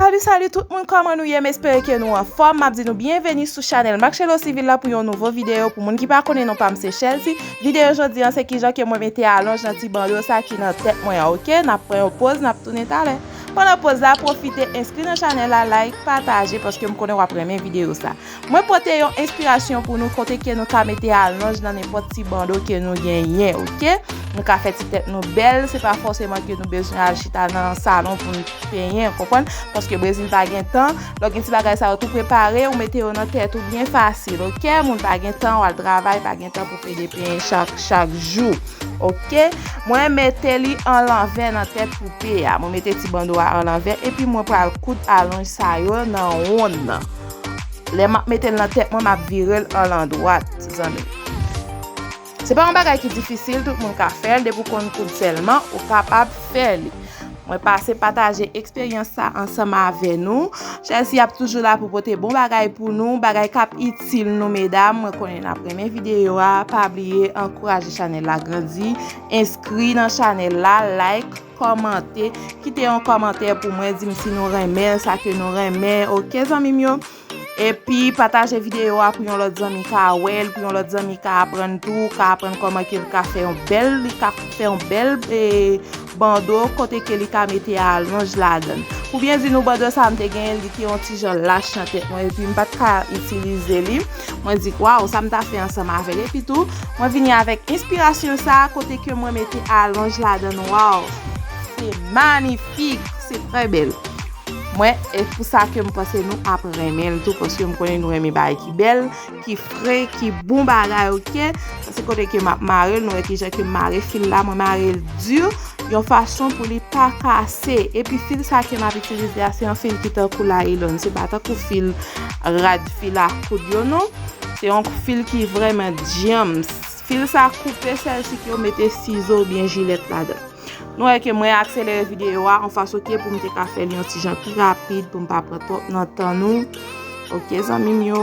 Salut salut tout moun kòman nou ye m espere ke nou anfòm map di nou byenveni sou chanèl Marcello Civil la pou yon nouvo video pou moun ki pa konnen non pam se Chelsea video jodi an se kijan ke mwen mete alonj nan ti bandeau sa ki nan tèt mwen an ok nap pran yon poz nap tounen talè pandan poz la pwofite enskri nan chanèl la like pataje paske m konnen wap renmen video sa Mwen pote yon enspirasyon pou nou kote ke nou ka mete alonj nan nenpòt ti bando ke nou genyen ok. Nou ka fè ti tèt nou bèl, se pa fòseman ke nou bezwen al chita nan salon pou nou penyen ou konprann, paske Brezil pa gen tan, lò gen ti bagay sa yo tou prepare ou mete yo nan tèt ou byen fasil ok, moun pa gen tan ou al travay pa gen tan pou pede penyen chak chak jou ok. Mwen mete li an lanvè nan tèt poupe a, mwen mete ti bando a an lanvè epi mwen pral koud alonj sa yo nan wonn nan. Lè map metel nan tèt mwen map virel anl andwat zanmim. Se pa yon bagay ki difisil tout moun ka fèl depi ou konn koud sèlman ou kapab fè li. Mwen pase pataje eksperyans sa ansanm avè nou. Chelsea ap toujou la pou pote bon bagay pou nou, bagay kap itil nou medam. Mwen konnen nap renmen videyo a, pa bliye ankouraje chanèl la grandi, enskri nan chanèl la, like. Kòmante, kite yon kòmantè pou mwen di m si nou renmen sa ke nou renmen ok zanmi m yo epi pataje videyo a pou yon lòt zanmi ka wèl pou yon lòt zanmi ka aprann tou ka aprann kòman ke li ka fè yon bèl li ka fè yon bèl e bando kote ke li ka mete a lonj ladan pou byen di nou bando sa m te gen li te yon ti jan lach nan tèt mwen epi m pat ka itilize li. Mwen di waw sa m ta fè ansanm avèl epi tou mwen vini avèk enspirasyon sa kote ke mwen mete alonj ladann waw se manifik se trè bèl mwen e pou sa ke m panse nou ap renmen l tou paske m konnen nou renmen bagay ki bèl ki fre ki bon bagay ok sa se kote ke m ap mare l nou wè kijan ke m mare fil la mwen mare l di yon fason pou li pa kase epi fil sa ke m ap itilize a se yon fil ki tankou laylon se pa tankou fil rad. Fil a koud yo non. Se yon fil ki vreman djanms. Fil sa koupe sèl si yo mete sizo ou byen jilèt ladan. Nou wè ke mwen akselere videyo a yon fason ke pou m te ka fè li yon ti jan pi rapid pou m pa pran twòp nan tan nou. Ok zanmi m yo.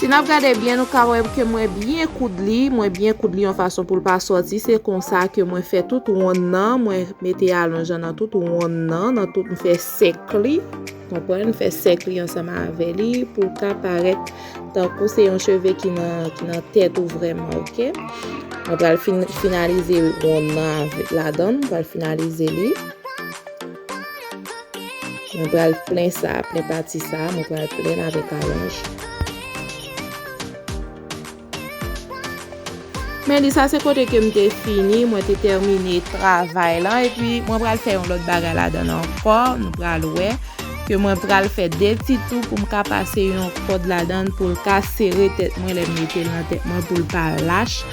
Si nap gade byen nou ka wè ke mwen byen koud li, mwen byen koud li yon fason poul pa sòti, se konsa ke mwen fè tout wonn nan, mwen mete alonj lan nan tout wonn nan, nan tout m fè sèk li, konprann, m fè sèk li ansanm avè li pou l ka parèt tankou se yon cheve ki nan tèt ou vrèman ok, mwen pral finalize wonn nan ladan, mwen pral finalize li. Mwen pral plen sa, plen pati sa, mwen pral plen l avèk alonj. Men li sa se kote ke m te fini, mwen te tèmine travay lan, epi mwen pral fè yon lòt bagay ladan ankò, nou pral wè, ke mwen pral fè de ti tou pou m ka pase yon kòd ladan pou l ka sere tèt mwen lè m mete l nan tèt mwen pou l pa lach.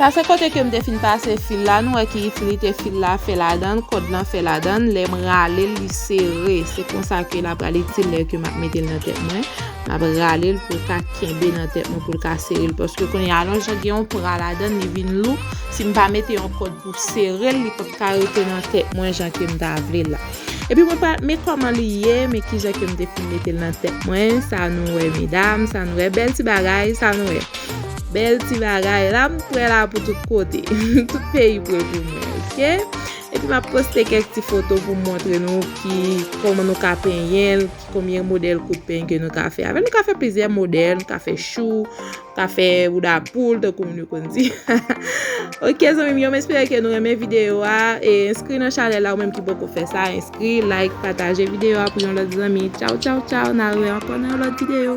Pase kote kem te fin pase fil la nou wè ki itilite fil la fè ladann kòd lan fè ladann lèm ralel li sere se konsa ke la pral itil lè ke map metel nan tèt mwen map ralel poul ka kenbe nan tèt mwen poul ka serel paske kounye a lon jan gen yon pra ladann li vin lou sim pa mete yon kòd Ou serel li pap ka rete nan tèt mwen jan kem ta vle la. Epi mwen pa men kòman li ye men kijan kem te fin metel nan tèt mwen sa nou wè medam sa nou wè bèl ti bagay sa nou wè bèl ti bagay la m prè la pou tout kote tout peyi prè pou mwen ok epi map poste kèk ti foto poum montre nou ki kòman nou ka penyenl ki konbyen modèl kout peny ke nou ka fè avèl nou ka fè plizyè modèl nou ka fè chou Ka fè bouda poul tankou moun yo konn di. Ok zanmi m yo m espere ke nou renmen video a e enskri nan chanel la ou menm ki poko fè sa enskri like pataje video a pou yon lòt zanmi tchaw tchaw tchaw na re ankò nan yon lòt video.